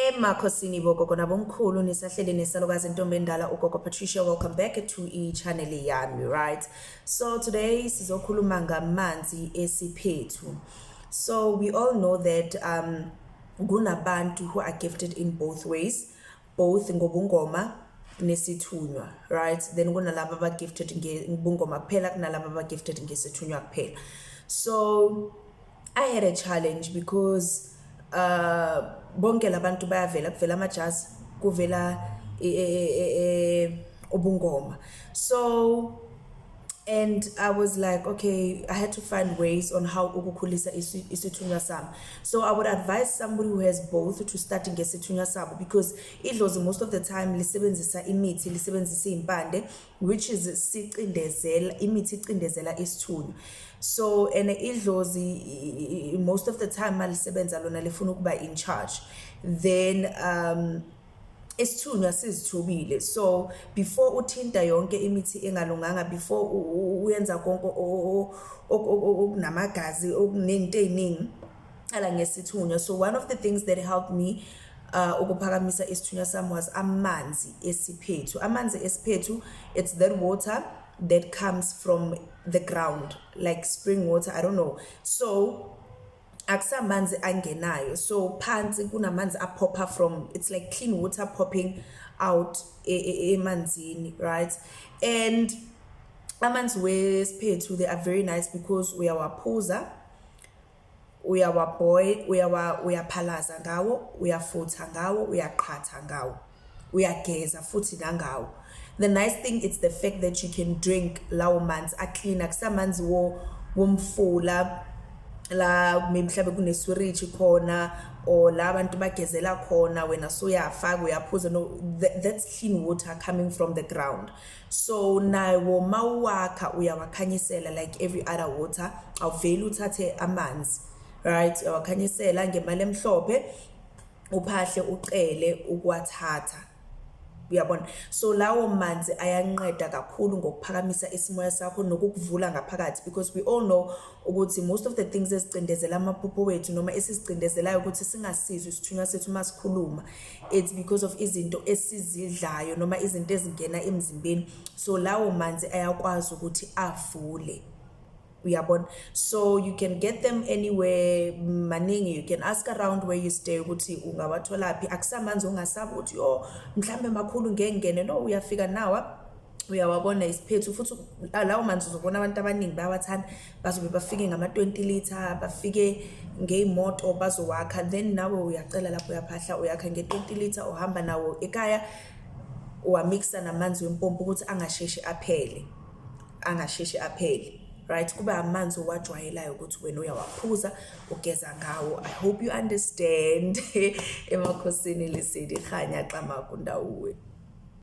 emakhosini bogogo nabomkhulu nisahleli nesalukazi intombi endala ugogo patricia welcome back to i-channel yami right so today sizokhuluma ngamanzi esiphethu so we all know that um kunabantu who are gifted in both ways both ngobungoma nesithunywa right then kunalaba abagifted ngobungoma kuphela kunalaba abagifted ngesithunywa kuphela so I had a challenge because uh bonke labantu bayavela kuvela amajazi kuvela e, e, e, ubungoma so and i was like okay i had to find ways on how ukukhulisa isithunywa sami so i would advise somebody who has both to start ngesithunywa sabo because idlozi most of the time lisebenzisa imithi lisebenzisa iy'mpande which is sicindezela imithi icindezela isithunywa so and idlozi most of the time malisebenza lona lifuna ukuba in charge then um isithunywa sizithubile so before uthinta yonke imithi engalunganga before uyenza konke okunamagazi okunezinto eziningi cala ngesithunywa so one of the things that helped me uh, ukuphakamisa isithunywa sami was amanzi esiphethu amanzi esiphethu it's that water that comes from the ground like spring water i don't know so akusamanzi angenayo so phansi kunamanzi aphopha from it's like clean water popping out e, e, emanzini e, right and amanzi wesiphethu they are very nice because uyawaphuza uyawaboy uyawa uyaphalaza ngawo uyafutha ngawo uyaqhatha ngawo uyageza futhi nangawo the nice thing it's the fact that you can drink lawo manzi aclean akusamanzi wo womfula la maybe mhlawumbe kuneswiriji khona or la abantu bagezela khona wena soyafaka uyaphuza no that, that's clean water coming from the ground so nawo mawuwakha uyawakhanyisela like every other water awuveli uthathe amanzi right uyawakhanyisela ngemali emhlophe uphahle ucele ukwathatha uyabona so lawo manzi ayanqeda kakhulu ngokuphakamisa isimoya sakho nokukuvula ngaphakathi because we all know ukuthi most of the things ezicindezela amaphupho wethu noma esizicindezelayo ukuthi singasizwe isithunywa sethu uma sikhuluma it's because of izinto esizidlayo noma izinto ezingena emzimbeni so lawo manzi ayakwazi ukuthi avule uyabona so you can get them anywhere maningi you can ask around where you stay ukuthi ungawathola phi akusamanzi ongasaba ukuthi yo mhlambe makhulu ngengene no uyafika nawa uyawabona isiphethu futhi lawo manzi uzobona abantu abaningi bayawathanda bazobe bafike ngama-20 litre bafike ngey'moto bazowakha then nawe uyacela lapho uyaphahla uyakha nge-20 litre uhamba nawo ekaya uwamikisa namanzi wempompo ukuthi angasheshi aphele angasheshi aphele right kube amanzi owajwayelayo ukuthi wena uyawaphuza ugeza ngawo i hope you understand emakhosini lisidi khanya xamaku ndawuwe